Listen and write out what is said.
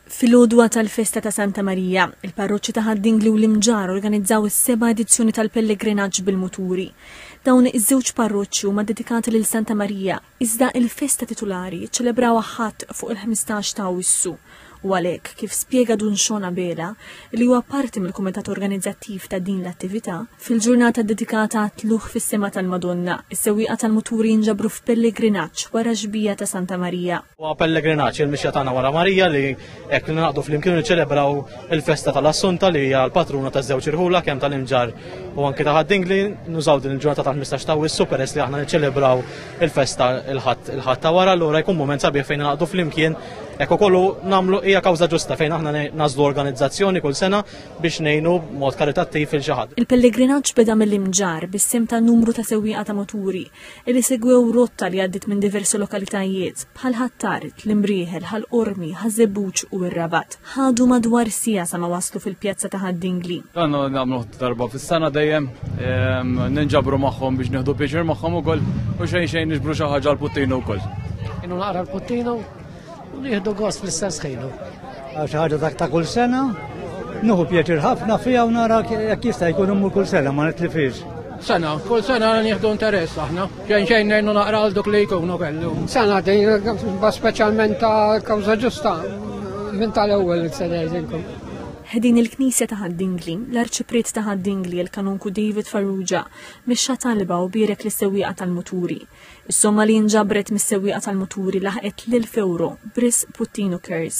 Fil-għodwa tal-festa ta' Santa Marija, il-parroċċi ta' Ħad-Dingli u l-Imġarr organizzaw is-seba' edizzjoni tal-pellegrinaġġ bil-muturi. Dawn iż-żewġ parroċċi huma ddedikati lil Santa Marija, iżda il-festa titulari jiċċelebrawha Ħadd fuq il-ħmistax ta' Awwissu. U għalhekk, kif spjega Dun Sean Abela, li huwa parti mill-kumitat organizzattiv ta' din l-attività, fil-ġurnata ddedikata għat-tlugħ fis-sema tal-Madonna, is-sewwieqa tal-muturi jinġabru f'pellegrinaġġ wara x-xbija ta' Santa Marija. Wa pellegrinaċ il-mixja tagħna wara Marija li hekk li naqdu flimkien niċċelebraw il-festa tal-Assunta li hija l-patruna taż-żewġ irħula kemm tal-imġar u anke ta' ħaddingli nużaw din il-ġurnata tal-15 ta' wissu peress li aħna niċċelebraw il-festa il-ħadd il-ħadd ta' wara allura jkun mument sabiħ fejn naqdu flimkien hekk ukollu nagħmlu hija kawża ġusta fejn aħna nażlu organizzazzjoni kull sena biex ngħinu mod karitattiv il xi ħadd. Il-pellegrinaġġ beda mill-imġar bis-sim ta' numru ta' sewwieqa ta' moturi li segwew rotta li għaddit minn diversi lokalitajiet bħal Ħattarit, l-Imrieħel, Ħal Qormi, Ħaż-Żebbuġ u r-Rabat. Ħadu madwar siegħa sa ma waslu fil-pjazza ta' Ħad-Dingli. Dan nagħmlu darba fis-sena dejjem ehm, ninġabru magħhom biex nieħdu pieċir magħhom ukoll u xejn xejn niġbru xi ħaġa l-puttinu wkoll. Inhu naqra l-puttinu U nieħdu gost fl-istess ħinu. Għax ħaġa dak ta' kull sena, nuhu pjaċir ħafna fija u nara jekk jista' jkun imur kull sena ma nitlifiex. Sena, kull sena nieħdu interess aħna. Xejn xejn ngħinu naqra għal dok li jkunu kellu. Sena din ba speċjalment ta' kawża ġusta minn tal-ewwel se ngħidilkom. Ħdin il-Knisja ta' Ħaddingli, l-Arċipriet ta' Ħaddingli il-Kanunku David Farrugia, mixxa talba u bierek l-sewwieqa tal-muturi. Is-somma li nġabret mis-sewwieqa tal-muturi laħqet l-1000 ewro, b'risq puttinu kers.